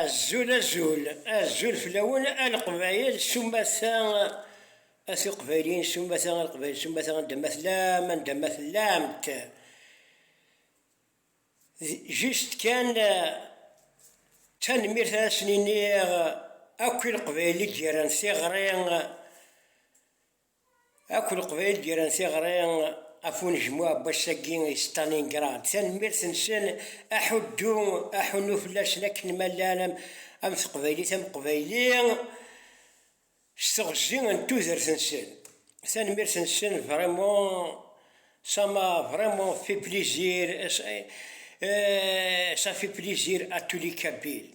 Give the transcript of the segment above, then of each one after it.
Azul azul azul fell-awen a leqbayel s umata a tuqbayliyin s umata a leqbayel s umata anda ma tellam anda ma tellamt juste kan tanemmirt ara sen-iniɣ akk i leqbayel i d-yerran tiɣri Akk Leqbayel gren tiɣri ɣef unejmuɛ n wass-agi i Stalingrad. Tanemmirt-nsen, aḥuddu, aḥunnu fell-asen akken ma llan am teqbaylit am uqbayli s teɣzi n tudert-nsen. Tanemmirt-nsen vraiment, ça m'a vraiment fait plaisir et ça fait plaisir à tous les Kabyles.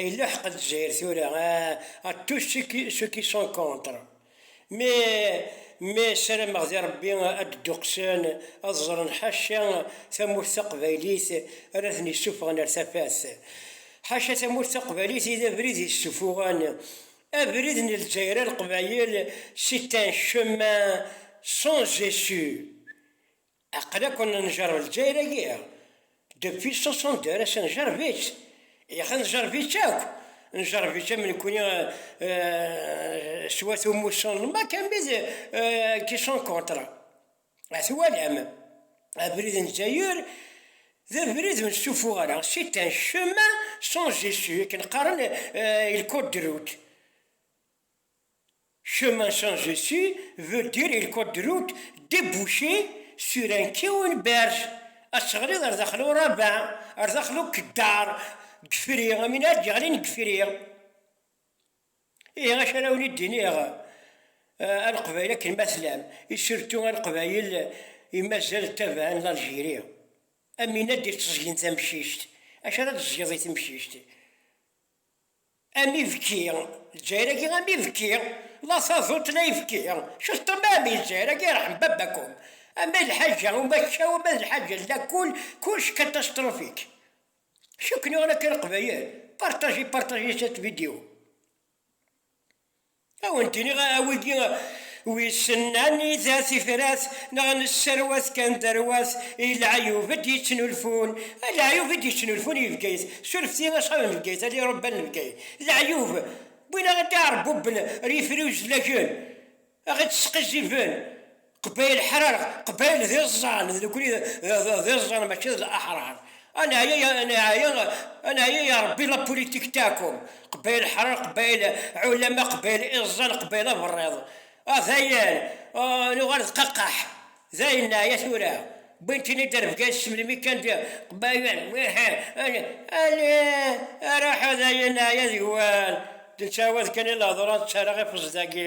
Yella ḥeq Lezzayer tura a tous ceux qui sont contre mais mais sarameɣ di Rebbi ad d-duqsen ad ẓren ḥaca tamurt taqbaylit ara ten-isuffɣen ar tafat ḥaca tamurt taqbaylit i d abrid i suffuɣen abrid n Lezzayer a Leqbayel c'est un chemin sans issue Aql akk n njerb Lezzayer-agi, depuis soixante-deux ass njerb-itt, yax njerb-itt akk, njerb-itt am nekni s wat umussan n Maca mi d qui sont contre. A twalam, abrid n Lezzayer d abrid ur nestufu ara, c'est un chemin sans issue, akken qqaren il code de route. Chemin sans issue veut dire il code de route débouché sur un quai ou une berge. Asseɣli ar daxel uraba, ar daxel ukeddar, gefri, am win ara d-yeɣlin gefri. Ihi acu ara wen-id-iniɣ a Leqbayel akken ma tellam, i surtout a Leqbayel i mazal ttabaɛen l'Algérie. Am win ad d-itteẓgen tamcict. Acu ara d-teẓgeḍ i temcict? Am ibki, Lezzayer-agi am ibki, la taduṭ la ibki, cesṭem a mmi Lezzayer-agi irḥem baba-kum, ama d lḥaǧa umakkaw ama d lḥaǧa n lakul kullec catastrophique. Cukk nniɣen akka leqbayel, partagez partagez cette vidéo. Ad wen-d-iniɣ, a wigi wissen anida tifrat neɣ nesserwat kan tarwa-s i leɛyub i d-yettnulfun, a leɛyub i d-yettnulfun i Bgayet, surfet i aṣab n Bgayet, a irebban n Bgayet, leɛyub wwin-aɣ-d iɛerbuben ar yifri uzlagen, a ɣ-ittesqizziben. Qbayel ḥrarɣ, Qbayel d iẓẓan, d nekni d iẓẓan mačči d laḥrar. A neɛya, a neɛya, a neɛya ya Rebbi la politique taakum, Qbayel ḥrarɣ, Qbayel ɛulama, Qbayel iẓẓan, Qbayel aberriḍ. A dayen, nuɣal d qaqaḥ, dayen neɛya tura, wwin-ten-id ar Bgayet s melmi kan d Qbayel, wehh, alih, alih, aruḥ a dayen neɛya deg-wen, d ttawad kan i la ḍran, ttarraɣ ifeẓ dagi.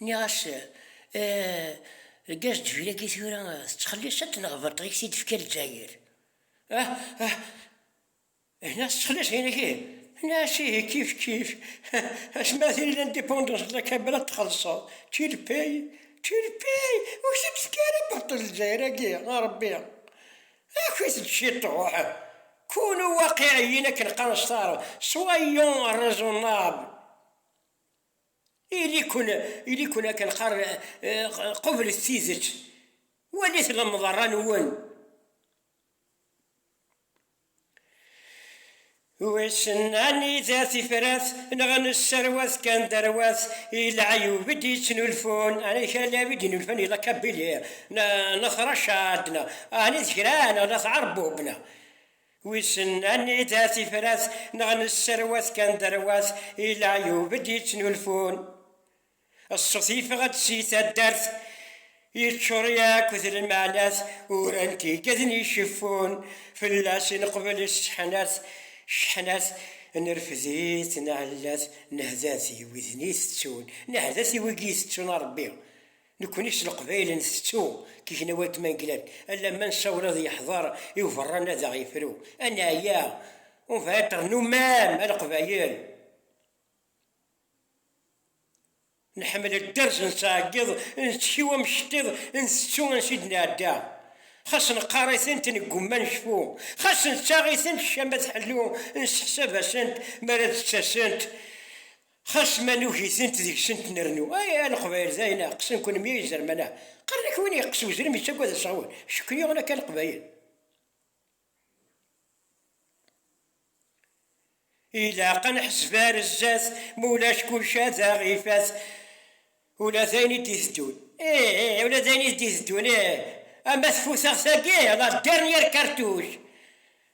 Nniɣ-as, Eh, deg asdeffir-agi tura tettxelliṣeḍ-t neɣ baṭel i k-t-id-tefka Lezzayer? Ah, ah, hna tettxelliṣ ayen agi? Nniɣ-as, Ihi, kif kif, asmi ara tili l'indépendance de la Kabylie ad t-txellṣeḍ, tu le payes, tu le payes, ur k-t-id-tefka ara baṭel Lezzayer-agi, a Rebbi! Aki-t-ed ciṭuḥ! Kunu waqiɛ-iyin akken qqaren s taɛrabt, soyons raisonnables! Ili-ken akken qqaren, qublet tidet, walit lemḍerra-nwen. Wissen anida tifrat neɣ nesserwat kan tarwa-s i leɛyub i d-yettnulfun, ɛni kra n lɛib i d-inulfan i Lakabili neɣ Latṛacad neɣ ɛni d kra neɣ Latɛerbub neɣ. Wissen anida tifrat neɣ nesserwat kan tarwa-s i leɛyub i d-yettnulfun. Ṣṣut yeffeɣ-d si taddart, yeččur yakk d lmeɛnat, uran-t igeden iceffun, fell-as neqbel sseḥnat, cceḥnat, nerfed-it, nɛellat, nehda-t i widen itettun, nehda-t i wigi itettun a Rebbi. Nekkni s Leqbayel ntettu tiknawal d tmanglat, alamma nessawel ad yeḥḍer i uberran ad aɣ-yefru. Ad neɛya, on va être nous-mêmes, a Leqbayel. Nḥemmel dderz, nettɛeggiḍ, nettkiw am cṭiḍ, ntettu ansi d-nɛedda. Xas neqqar-itent, neggumma necfu. Xas nettaɣ-itent, ccama tḥellu, nesseḥsab-asent mi ara d-ttasent. Xas ma nugi-tent deg-sent nrennu, ay a Leqbayel dayen ɛeqqsen kunmi ay izerman ah! Qqaren akk win yeqqes uzrem yettagad aseɣwen, cekken yuɣen akka Leqbayel. Ilaq a neḥseb ar zdat, ma ulac kullec ad aɣ ifat, ula d ayen i d-iteddun. Ih ih, ula d ayen i d-iteddun ih, ama tfutaɣt-agi, la dderren yir kartuc.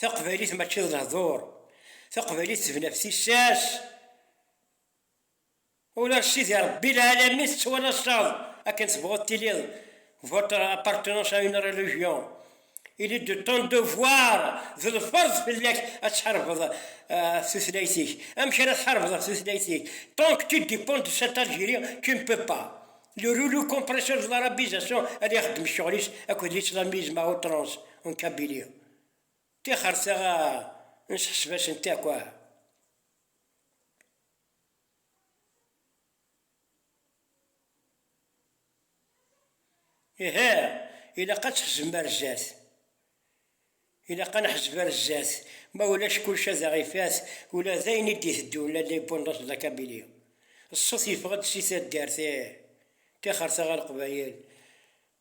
Taqbaylit mačči d lehdur, taqbaylit tebna ɣef tissas. Ula d Sidi Rebbi lɛalami tettwalaseḍ akken tebɣuḍ tiliḍ, votre appartenance à une religion, il est de ton devoir, d lferḍ fell-ak ad tḥarbeḍ ɣef tutlayt-ik. Amek ara tḥarbeḍ ɣef tutlayt-ik? Tant que tu dépends de cette Algérie, tu ne peux pas. Le rouleau compresseur de l'arabisation ad ixeddem ccɣel-is akked l'islamisme à outrance en Kabylie. Tixer taɣa n tḥesbas n Takwa. Ihi, ilaq ad tḥezbem ar zdat. Ilaq ad neḥzeb ar zdat, ma ulac kullec ad aɣ ifat, ula d ayen i d-iteddun la l'indépendance de la Kabylie. Ṣṣut yeffeɣ-d si taddart, ih, tixer taɣa Leqbayel.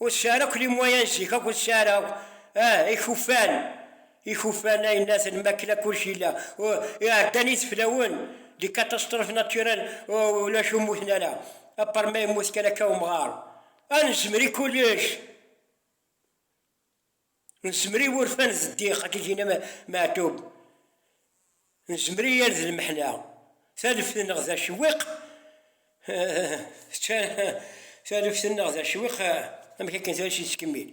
Ur tesɛi ara akk limuwaya n zik akk ur tesɛi ara akk ah ikufan ikufan aynaten makken akk kulec yella uh iɛeddan yiseflawen des catastrophes naturelles uh ulac ur mmuten ara apar ma yemmut kan akka umɣar ad nezmer i kulec. Nezmer i wurfan d ddiq, akka i d-yenna Meɛtub, nezmer i yal d lmeḥna, taleft-nneɣ d acewwiq, taleft-nneɣ d acewwiq, amek akken tali s-yettkemmil.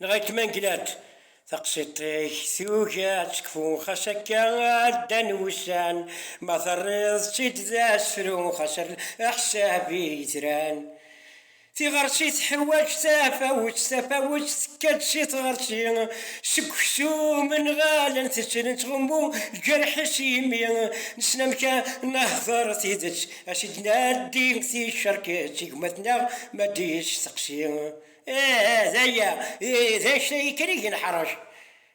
Neɣ akken ma negla-d, taqsiṭ-ik tugi ad tekfu, xas akka ɛeddan wussan, ma terriḍ-tt-id d asefru, xas err aḥsab i yetran. Tiɣerci teḥwaǧ tafawet, tafawet tekka-d si tɣerci, seg uksum nɣalen teţ, neţɣummu jerḥ-is imi nessen amek a nehder tideţ, a s-id-naddi ticerket i gma-tneɣ ma d-yesteqsi, ih, d aya, d anect-agi kan i gen ḥrac.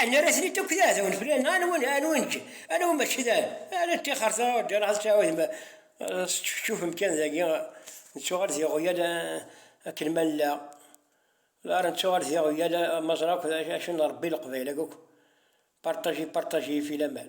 Ah, nerra-ten-id akk d iɛdawen fell-aɣ, neɣ anwa ne- anwa nekk, anwa mačči d aɛdaw? Ala ṭixer tɣawja, neɣ tettɛawad ma eh, teččefčufem kan dagi, nettuɣal d iɣwyal eh, akken ma nella, lara nettuɣal d iɣwyal eh, ma ẓra akk d acu, acu n Rebbi leqbayel-agi akk, partager, partager, yifilaman.